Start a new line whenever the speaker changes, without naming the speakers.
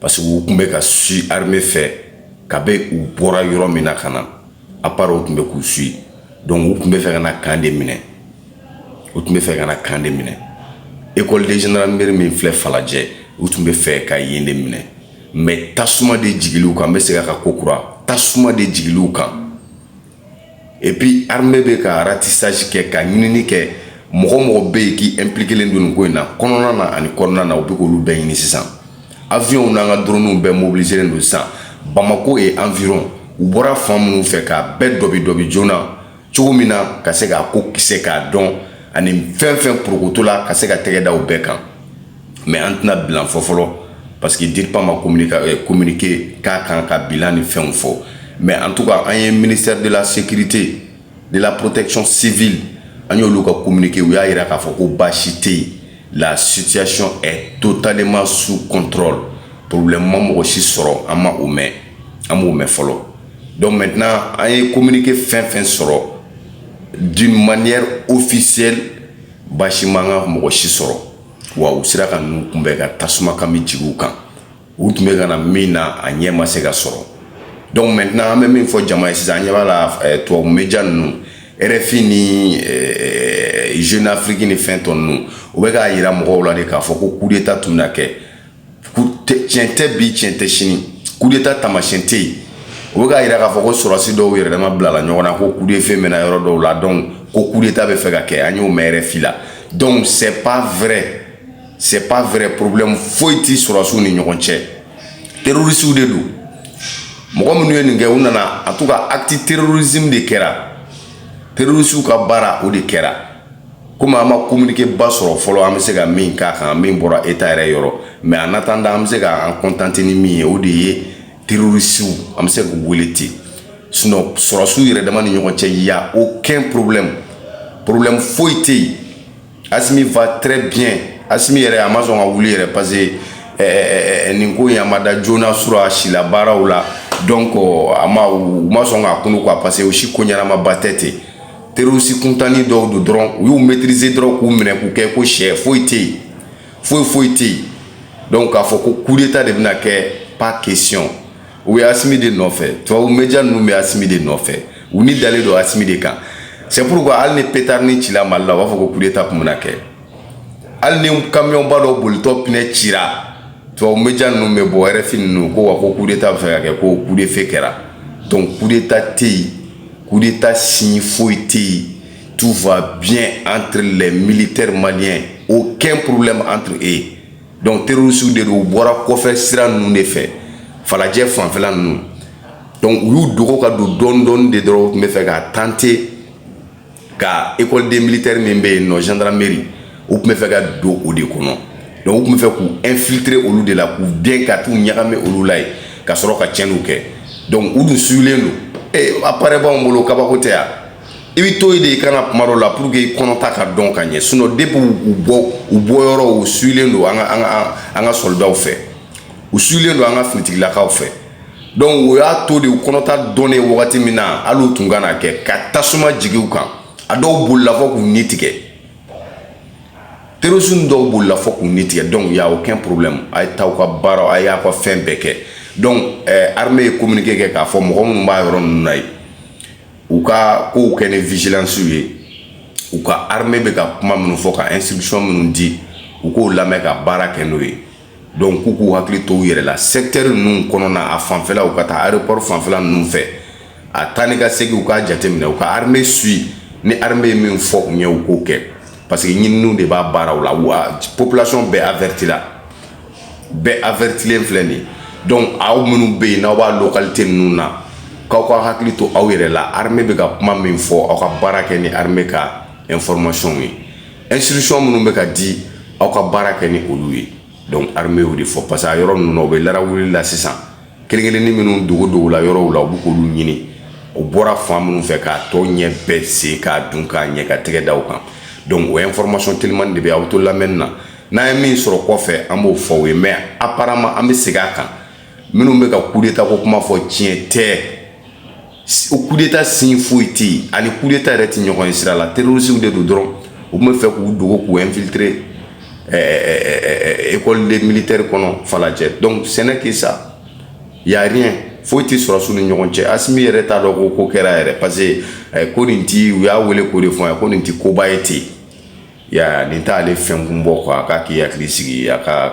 parce que u tun bɛ ka suivi armée fɛ kabi u bɔra yɔrɔ min na ka na à part u tun bɛ k'u suivi donc u tun bɛ fɛ ka na camp de minɛ u tun bɛ fɛ ka na camp de minɛ école de gendarmerie min filɛ falajɛ u tun bɛ fɛ ka yen de minɛ mais tasuma de jigila u kan n bɛ segin a kan kokura tasuma de jigila u kan et puis armée bɛ ka ratissage kɛ ka ɲinini kɛ mɔgɔ o mɔgɔ bɛ yen k'i impliquélen don nin ko in na kɔnɔna na ani kɔnɔna na u bɛ k'olu bɛɛ ɲini sisan avions n'an ka drones bɛɛ mobilisélen don sisan Bamako et environ u bɔra fan minnu fɛ k'a bɛɛ dɔbi dɔbi joona cogo min na ka se k'a ko kisɛ k'a dɔn ani fɛn o fɛn porokotola ka se ka tɛgɛ da u bɛɛ kan mais an tɛna bilan fɔ fɔlɔ parce que dirpa ma kominike eh, k'a kan ka bilan ni fɛnw fɔ mais en tout cas an ye ministère de la sécurité de la protection civile an y'olu ka kominike u y'a yira k'a fɔ ko baasi tɛ yen la situation est totalement sous contrôle problème ma mɔgɔ si sɔrɔ an ma o mɛn an m'o mɛn fɔlɔ donc maintenant an ye kominike fɛn o fɛn sɔrɔ d'une manière officielle baasi m'an ka mɔgɔ si sɔrɔ wa u sera ka ninnu kunbɛn ka tasuma kami jigin u kan u tun bɛ ka na min na a ɲɛ ma se ka sɔrɔ donc maintenant an bɛ min fɔ jama ye sisan an ɲɛ b'a la eh, tubabu media ninnu rfi ni eh, jeune afrique ni fɛn tɔ ninnu u bɛ k'a yira mɔgɔw la de k'a fɔ ko coup d'état tun bɛna kɛ tiɲɛ tɛ bi tiɲɛ tɛ sini kudeta tamasiyɛn tɛ yen u bɛ k'a yira k'a fɔ ko sɔrɔdasi dɔw yɛrɛ dama bilala ɲɔgɔn na ko kudefe mɛna yɔrɔ dɔw la donc ko kudeta bɛ fɛ ka kɛ an y'o mɛn rfi la donc c'est pas vrai c'est pas vrai problème foyi tɛ sɔrɔdasiw ni ɲɔgɔn cɛ terrorisiw de don mɔgɔ minnu ye nin kɛ u nana en tout cas acte terrorisme de kɛra terrorisiw ka baara o de kɛra komi an ma kominikeba sɔrɔ fɔlɔ an bɛ se ka min k'a kan min bɔra eta yɛrɛ yɔrɔ mais en attendant an bɛ se k'an kɔntante ni min ye o de ye terorisiw an bɛ se k'u wele ten sinon sɔrɔdasiw yɛrɛ dama ni ɲɔgɔn cɛ y a aucun problème porobilɛmu foyi tɛ yen asimi va très bien asimi yɛrɛ a ma sɔn ka wuli yɛrɛ parce que eh, eh, eh, nin ko in a ma da joona su rɔ a sila baaraw la donc a ma u ma sɔn k'a kunun quoi parce que o si ko ɲɛnamaba tɛ ten terorisi kuntannin dɔw don dɔrɔn u y'u maîtriser dɔrɔn k'u minɛ k'u kɛ ko sɛ foyi tɛ yen foyi foyi tɛ yen donc k'a fɔ ko kudeta de bɛna kɛ pas question u ye asimi de nɔfɛ tubabu media ninnu bɛ asimi de nɔfɛ u ni dalen don asimi de kan c'est pourquoi hali ni petarinin cila mali la u b'a fɔ ko kudeta tun bɛna kɛ hali ni kamiyɔnba dɔ bolitɔ pinɛ cira tubabu media ninnu bɛ bɔ rfi ninnu ko wa ko kudeta bɛ fɛ ka kɛ ko kudefe kɛra donc kudeta tɛ yen coup d'état signe foyi tɛ yen tout va bien entre les militaires maliens aucun problème entre eux donc terrorisiw de don u bɔra kɔfɛ sira ninnu de fɛ falajɛ fanfɛla ninnu donc u y'u dogo ka don dɔɔni dɔɔni de dɔrɔn u tun bɛ fɛ k'a tenter ka école des militaires min bɛ yen nɔ gendarmerie u tun bɛ fɛ ka don o de kɔnɔ donc u tun bɛ fɛ k'u infiltrer olu de la k'u dɛn ka t'u ɲagami olu la yen ka sɔrɔ ka tiɲɛniw kɛ donc u dun suyulen don ee appareil b'anw bolo kabako tɛ yan i bɛ to yen de i kana kuma dɔ la pour que i kɔnɔta ka dɔn ka ɲɛ sinon depuis u bɔ u bɔ yɔrɔ u suyulen don an ka an ka an ka sɔlidaw fɛ u suyulen don an ka finitigilakaw fɛ donc o y'a to de u kɔnɔta dɔnnen wagati min na hali u tun ka na kɛ ka tasuma jigi u kan a dɔw bolila fɔ k'u ni tigɛ terrorisme dɔw bolila fɔ k'u ni tigɛ donc y'a aucun problème a ye taa aw ka baaraw a y'a ka fɛn bɛɛ kɛ donc eh, armée ye communiqué kɛ k'a fɔ mɔgɔ minnu b'a yɔrɔ ninnu na yen u ka kow kɛ ni vigilance ye u ka armée bɛ ka kuma minnu fɔ ka instruction minnu di u k'o lamɛn ka baara kɛ n'o ye donc k'u k'u hakili to u yɛrɛ la secteur ninnu kɔnɔna a fanfɛla u ka taa aéroport fanfɛla ninnu fɛ a taa ni ka segin u k'a jateminɛ u ka armée suivre ni armée ye min fɔ u ye u k'o kɛ parce que ninnu de b'a baaraw la wa population bɛɛ avertila bɛɛ avertilen filɛ de donc aw minnu bɛ yen n'aw b'a localité ninnu na k'aw ka hakili to aw yɛrɛ la armée bɛ ka kuma min fɔ aw ka baara kɛ ni armée ka informationw ye instruction minnu bɛ ka di aw ka baara kɛ ni olu ye donc armée y'o de fɔ parce que a yɔrɔ ninnu na u bɛ la rafle la sisan kelen kelenni minnu dogodogola yɔrɔw la u bɛ k'olu ɲini u bɔra fan minnu fɛ k'a tɔ ɲɛ bɛɛ se ka dɔn ka ɲɛ ka tɛgɛ da u kan donc o information telimani de bɛ aw bɛ to lamɛnni na n'an ye min sɔrɔ kɔfɛ an b'o fɔ aw ye mais apparemment an bɛ segin a kan minnu bɛ ka coup d'état ko kuma fɔ tiɲɛ tɛ o coup d'état signe foyi tɛ yen an ni coup d'état yɛrɛ tɛ ɲɔgɔn ye sira la terrorisiw de don dɔrɔn u tun bɛ fɛ k'u dogo k'u infiltrer école des militaires kɔnɔ falajɛ donc ce n'est que ça y a rien foyi tɛ sɔrɔdasiw ni ɲɔgɔn cɛ asimi yɛrɛ t'a dɔn ko ko kɛra yɛrɛ parce que ko nin ti u y'a wele k'o de fɔ a ye ko nin ti koba ye ten ya nin t'ale fɛn kun bɔ quoi a k'a k'i hakili sigi a ka